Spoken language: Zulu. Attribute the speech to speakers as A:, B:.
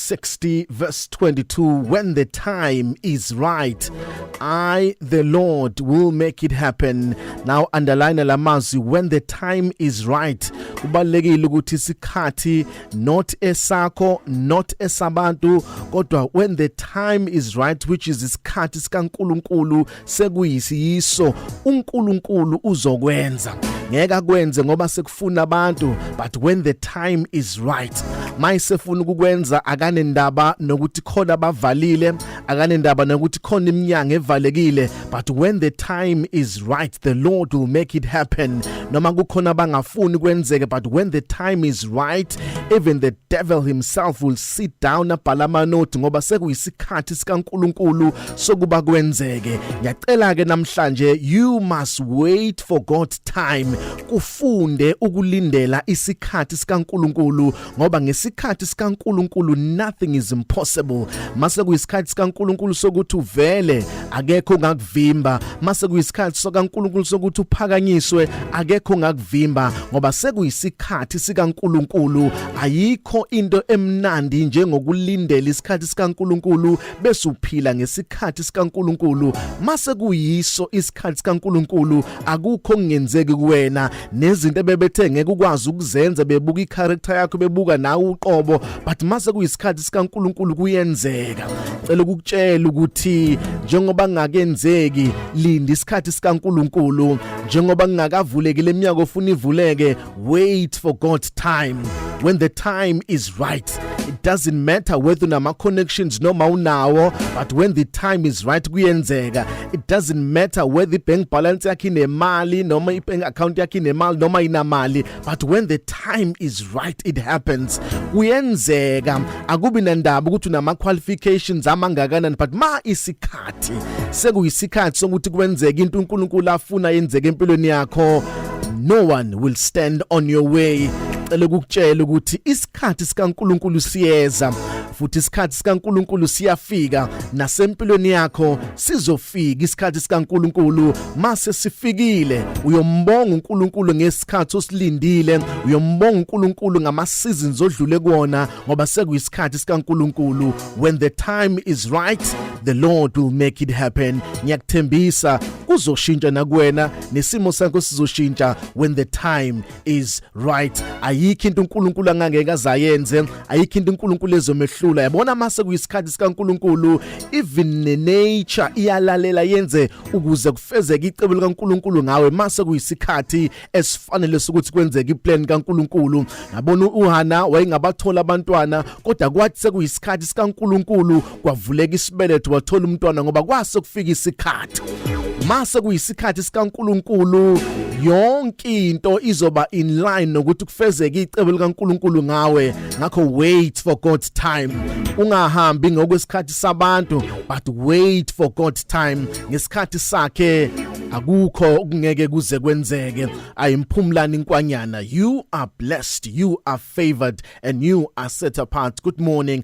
A: 60 verse 22 when the time is right i the lord will make it happen now underline lamazwi when the time is right kubalekile ukuthi isikhathi not esakho not esabantu kodwa when the time is right which is isikhathi sikaNkuluNkulu sekuyisiyiso uNkulunkulu uzokwenza ngeke akwenze ngoba sekufuna abantu but when the time is right mayisefuna ukukwenza akanendaba nokuthi khona bavalile akanendaba nokuthi khona iminyango evalekile but when the time is right the lord will make it happen noma kukhona bangafuni kwenzeke but when the time is right even the devil himself will sit down abhala amanothi ngoba sekuyisikhathi sikaNkuluNkulu sokuba kwenzeke ngiyacela ke namhlanje you must wait for God time kufunde ukulindela isikhathi sikaNkuluNkulu ngoba ngesikhathi sikaNkuluNkulu nothing is impossible mase kuyisikhathi sikaNkuluNkulu sokuthi uvele akekho ngakuvimba mase kuyisikhathi sikaNkuluNkulu sokuthi uphakanyiswe akekho ngakuvimba ngoba sekuyisikhathi sikaNkuluNkulu ayikho into emnandi njengokulindela isikhathi sikaNkuluNkulu bese uphila ngesikhathi sikaNkuluNkulu mase kuyiso isikhathi sikaNkuluNkulu akukho kungenzeki kuwena nezinto ebebethe ngeke ukwazi ukuzenza bebuka icharacter yakho bebuka nawe uqobo but mase kuyisikhathi sikaNkuluNkulu kuyenzeka cela ukutshela ukuthi njengoba ngakenzeki linda isikhathi sikaNkuluNkulu njengoba ngingakavuleki leminyaka ofuna ivuleke wait for God's time when the time is right it doesn't matter whether unama connections noma unawo but when the time is right kuyenzeka it doesn't matter whether ibank balance yakhe inemali noma ibank account yakhe inemali noma inamali but when the time is right it happens kuyenzeka akubi nandaba ukuthi unama qualifications amangakanani but ma isikhathi sekuyisikhathi sokuthi kwenzeke into uNkulunkulu afuna yenzeke empilweni yakho no one will stand on your way cela ukukutshela ukuthi isikhathi sikaNkuluNkulu siyeza futhi isikhathi sikaNkuluNkulu siyafika nasempilweni yakho sizofika isikhathi sikaNkuluNkulu mase sifikile uyombonga uNkuluNkulu ngesikhathi osilindile uyombonga uNkuluNkulu ngama seasons odlule kuona ngoba sekuyisikhathi sikaNkuluNkulu when the time is right the Lord will make it happen ngiyakuthembisa kuzoshintsha nakuwena nesimo sakho sizoshintsha when the time is right ayikho into uNkulunkulu angangeke azayenze ayikho into uNkulunkulu ezomehlula yabona mase kuyisikhathi sikaNkulunkulu even ne nature iyalalela yenze ukuze kufezeke icebo likaNkulunkulu ngawe mase kuyisikhathi esifanele sokuthi kwenzeke iplan kaNkulunkulu yabona uHana wayengabathola abantwana kodwa kwathi sekuyisikhathi sikaNkulunkulu kwavuleka isibeletho wathola umntwana ngoba kwase kufika isikhathi mase kuyisikhathi sikaNkuluNkulu yonke into izoba in line nokuthi kufezeke icebo likaNkuluNkulu ngawe ngakho wait for God's time ungahambi ngokwesikhathi sabantu but wait for God's time ngesikhathi sakhe akukho okungeke kuze kwenzeke ayimphumlani inkwanyana you are blessed you are favored and you are set apart good morning